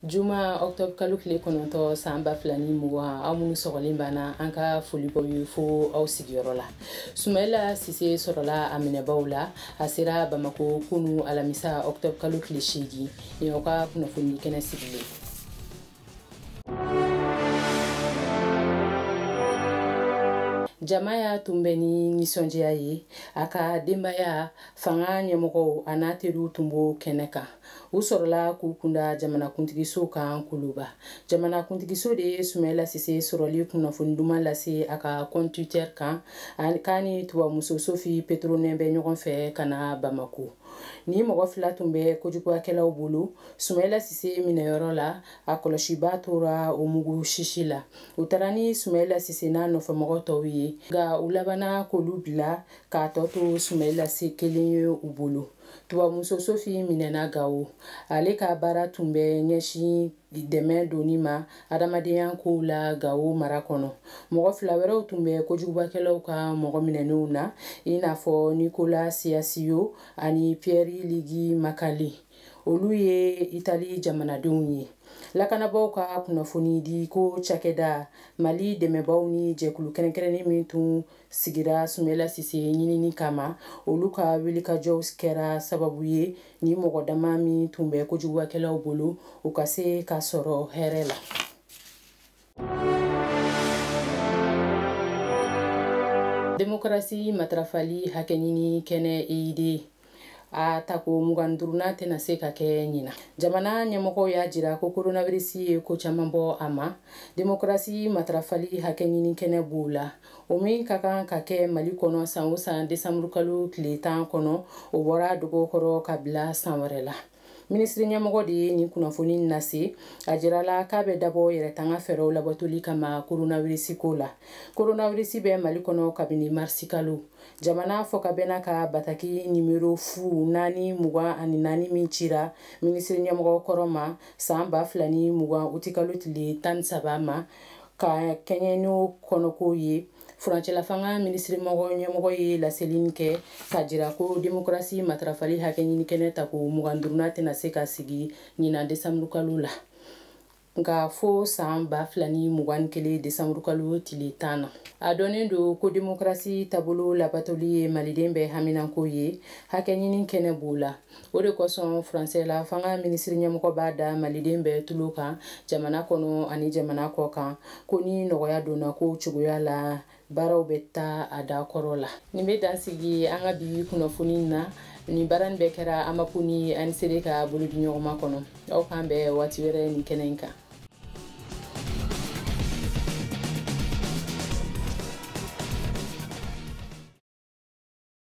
juma octobre kalo tile kɔnɔntɔn san ba fila ni mugan aw minnu sɔgɔlen b'an na an ka foli b'aw ye fo aw sigiyɔrɔ la sumayila sise sɔrɔla a minɛbaw la a sera bamako kunu alamisa octobre kalo tile seegin nin aw ka kunnafoni kɛnɛ sigilen jama y'a tun bɛ ni nisɔndiya ye a ka denbaya fanga ɲɛmɔgɔw an'a teriw tun b'o kɛnɛ kan u sɔrɔla k'u kunda jamanakuntigiso kan kuluba jamanakuntigiso de ye sumayila sise sɔrɔli kunnafoni duman lase a ka compte twitter kan k'a ni tubabumuso sofi petronɛn bɛ ɲɔgɔn fɛ ka na bamako nin mɔgɔ fila tun bɛ kojugubakɛlaw bolo sumayila sise minɛyɔrɔ la a kɔlɔsibaa tora o mugu sisi la u taara ni sumayila sise n'a nɔfɛmɔgɔ tɔw ye nka u labanna k'olu bila k'a tɔ to sumayila sise kelen ye u bolo tubabumuso sofi minɛna gawo ale ka baara tun bɛ ɲɛsin dɛmɛ donni ma adamadenya kow la gawo mara kɔnɔ mɔgɔ fila wɛrɛw tun bɛ kojugubakɛlaw ka mɔgɔ minɛnenw na i n'a fɔ nikola siasiyo ani piɛri ligi makali olu ye itali jamanadenw ye lakanabaaw ka kunnafoni di ko cakɛda mali dɛmɛbaaw ni jɛkulu kɛrɛnkɛrɛnnen min tun sigira sumayila sise ɲinini kama olu ka wilikajɔw kɛra sababu ye nin mɔgɔ dama min tun bɛ kojugubakɛlaw bolo u ka se ka sɔrɔ hɛrɛ la demokarasi matarafali hakɛɲini kɛnɛ eyide a tako mugan duurunan tɛna se ka kɛ ɲinan jamana ɲɛmɔgɔw y'a jira ko koronavirisi ye ko caman bɔ a ma demokarasi matarafali hakɛɲini kɛnɛ b'o la o min ka kan ka kɛ mali kɔnɔ san o san desanburukalo tile tan kɔnɔ o bɔr'a dogo kɔrɔ ka bila san wɛrɛ la minisiri ɲɛmɔgɔ de ye nin kunnafoni nase a jirala k'a bɛ dabɔ yɛrɛtanga fɛɛrɛw labatoli kama koronawirisi ko la koronawirisi bɛ mali kɔnɔ kabini marisi kalo jamana fɔkabɛnna ka bataki nimero fu naani mugan ani naani min cira minisiri ɲɛmɔgɔ kɔrɔ ma san ba fila ni mugan utikalo tile tan ni saba ma ka kɛɲɛ n'o kɔnɔkow ye furancɛlafanga minisiri mɔgɔ ɲɛmɔgɔ ye laseli in kɛ k'a jira ko demokarasi matarafali hakɛɲini kɛnɛ tako mugan duurunan tɛna se ka sigi ɲinan desanburukalo la nka fo san ba fila ni mugan ni kelen desanburukalo tile tan na a dɔnnen don ko demokarasi taabolo labatoli ye maliden bɛɛ haminanko ye hakɛɲini kɛnɛ b'o la o de kosɔn furancɛla fanga minisiri ɲɛmɔgɔ b'a da maliden bɛɛ tulo kan jamana kɔnɔ ani jamana kɔ kan ko ni nɔgɔya donna ko cogoya la baaraw bɛ taa a da kɔrɔ la nin bɛ dan sigi an ka bi kunnafoni na nin baara nin bɛɛ kɛra amapu ni ANCD ka bolodiɲɔgɔnma kɔnɔ aw k'an bɛn waati wɛrɛ nin kɛnɛ in kan